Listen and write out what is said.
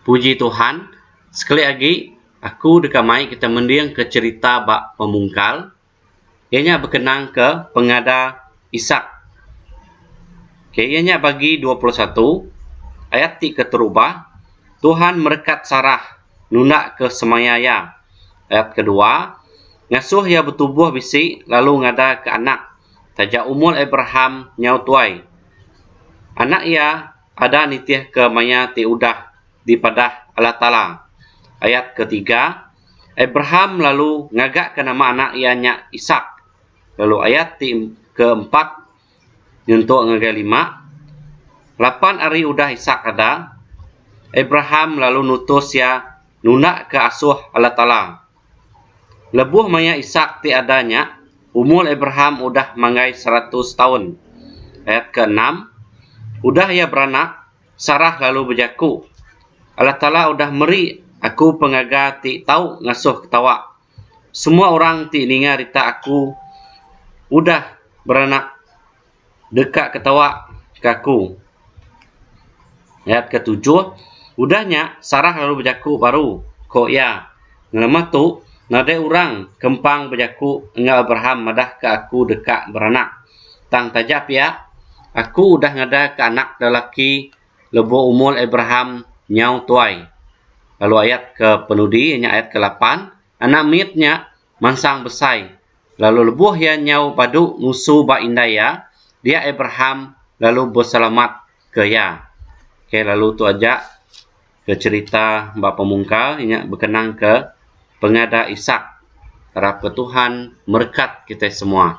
Puji Tuhan, sekali agi aku deka mai kita mendingka cherita ba pemungkal iya nya bekenangka pengada Isak. Okay, iya nya bagi dua puluh satu ayat ti keterubah, Tuhan merekat Sarah nunda ke semaya iya. Ayat kedua, ngasuh iya betubuh bisi lalu ngada ke anak taja umur Abraham nyau tuai. Anak iya Ada nitih ke maya ti udah di padah Allah Taala. Ayat ke tiga, Abraham lalu ngaga ke nama anak iya nya Isak. Lalu ayat ti ke empat nyentuk ngagai lima, Lapan ari udah Isak ada, Abraham lalu nutus iya nunda ke asuh Allah Taala. Lebuh maya Isak ti ada nya, umur Abraham udah manggai seratus taun. Ayat ke enam, Udah iya beranak, Sarah lalu bejaku, Allah Taala udah meri aku pengaga ti tau ngasuh ketawa. Semua orang ti ninga rita aku udah beranak. Deka ketawa ka aku. Ayat ke tujuh, Udah nya, Sarah lalu bejaku baru, ko iya, Ngelemah tu, nadai orang ke empang bejaku enggau Abraham madah ka aku deka beranak. Tang taja pia, aku udah ngada ka anak da laki lebuh umur Abraham nyau tuai. Lalu ayat ke penudi, iya nya ayat ke lapan, Anak mit nya mansang besai. lalu lebuh iya nyau badu ngusu ba indai iya, dia Abraham lalu beselamat ke iya. Okay, lalu tu aja ke cerita ba pemungkal inya bekenang ke pengada Isak. Arap ke Tuhan merekat kitai semua.